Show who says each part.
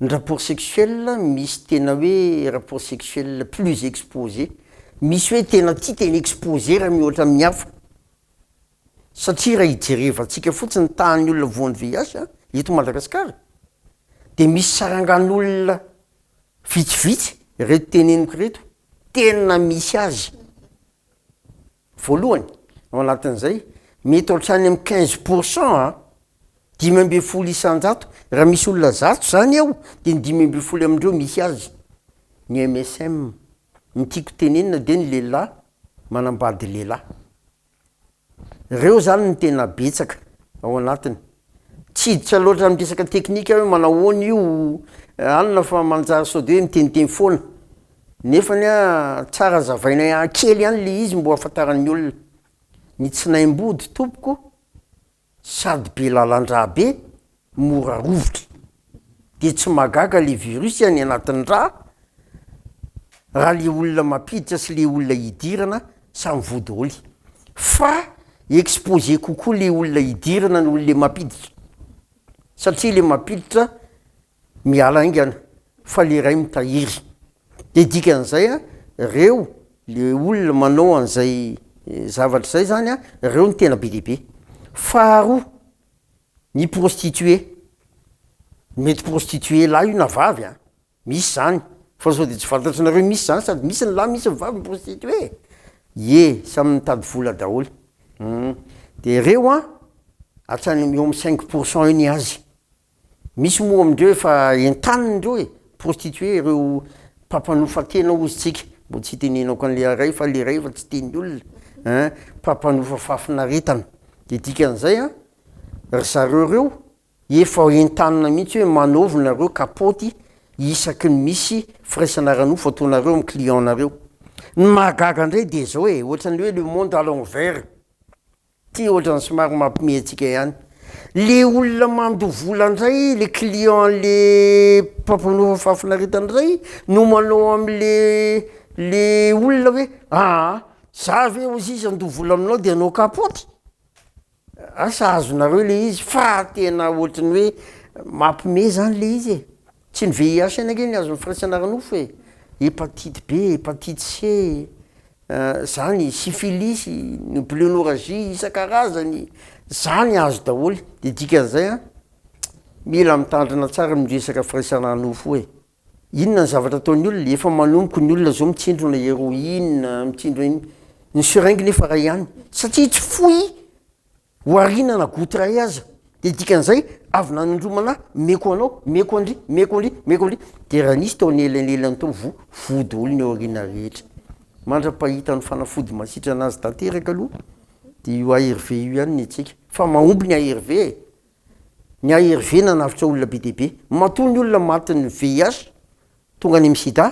Speaker 1: Ny rapport sexuel misy tena hoe rapport sexuel plus exposé, misy hoe tena tia tena exposé raha mihoatra amin'ny hafa. Satria raha ijerevantsika fotsiny ny tahan'ny olona voan'ny VIH eto Madagasikara dia misy sarangan'olona vitsivitsy ireto teneniko ireto tena misy azy. Voalohany, ao anatin'izay, mety hatrany amin'ny quinze pour cent an, dimy ambin'ny folo isan-jato, raha misy olona zato izany eo dia ny dimy ambin'ny folo amin'ireo misy azy. Ny MSM, ny tiako tenenina dia ny lehilahy manambady lehilahy. Ireo izany no tena betsaka ao anatiny. Tsy hiditra loatra amin'ny resaka teknika aho hoe manao ahoana io alina fa manjary sao de hoe miteniteny foana nefany a tsara azavainay kely ihany le izy mba ho ahafantaran'ny olona. Ny tsinaim-body tompoko. Sady be lalan-dra be, mora rovitra. Dia tsy mahagaga le virus any anatin'ny ra raha le olona mampiditra sy le olona idirana samy voa daholo. Fa exposé kokoa le olona idirana noho le mampiditra. Satria le mampiditra Miala haingana fa le ray mitahiry. De dikany zay a reo le olona manao anzay zavatra zay zany a reo no tena be dia be. Faharoa ny prostitué, mety prostitué lahy io na vavy a, misy zany fa sao de tsy fantatrinareo misy zany sady misy ny lahy misy ny vavy mi-prostitué e! ie samy mitady vola daholo humm de reo a hatrany eo am cinq pour cent eo ny azy. Misy moa amindreo efa entaniny ireo e, prostituee ireo mpampanofa tena hozy tsika, mbo tsy itenenako anle aray fa le ray efa tsy teny olona a, mpampanofa fahafinaretana de dikan'izay a ry zareo ireo efa entanina mihitsy hoe manaovy nareo kapaoty isaky ny misy firaisana ara nofo ataonareo amin'ny client nareo, ny mahagaga indray de zao e, ohatran'ny hoe le monde à l'envers. Ty ohatrany somary mampime antsika ihany le olona mandoa vola ndray le client le mpampanofa fahafinaretana ndray no manao amle le olona hoe aa za ve ozy izy andoa vola aminao de anao kapoty asa azonareo le izy fa tena ohatriny hoe mampime zany le izy e. Tsy ny VIH ihany ange ny azon'ny firaisana ara-nofo e! Hepatite B, hepatite C, zany, syphilis, ny bluenorragie isan-karazany, zany azo daholo. De dikan'izay an, mila mitandrina tsara amin'io resaka firaisana ara-nofo io e! Inona ny zavatra ataon'ny olona? Efa manomboka ny olona zao mitsindrona heroine, mitsindrona ino, ny seringue nefa ray ihany, satria tsy foy Oharina na goût iray aza dia dikan'izay avy nanondromana meko anao, meko an-dry, meko an-dry, meko an-dry, dia raha nisy tao anelanelan tao vo voa daholo ny ao aoriana rehetra. Mandra-pahita ny fanafody mahasitrana azy tanteraka aloha dia io ARV io ihany ny antsika. Fa mahomby ny ARV e! Ny ARV nanavotra olona be dia be. Matoa ny olona matin'ny VIH tonga any amin'ny sida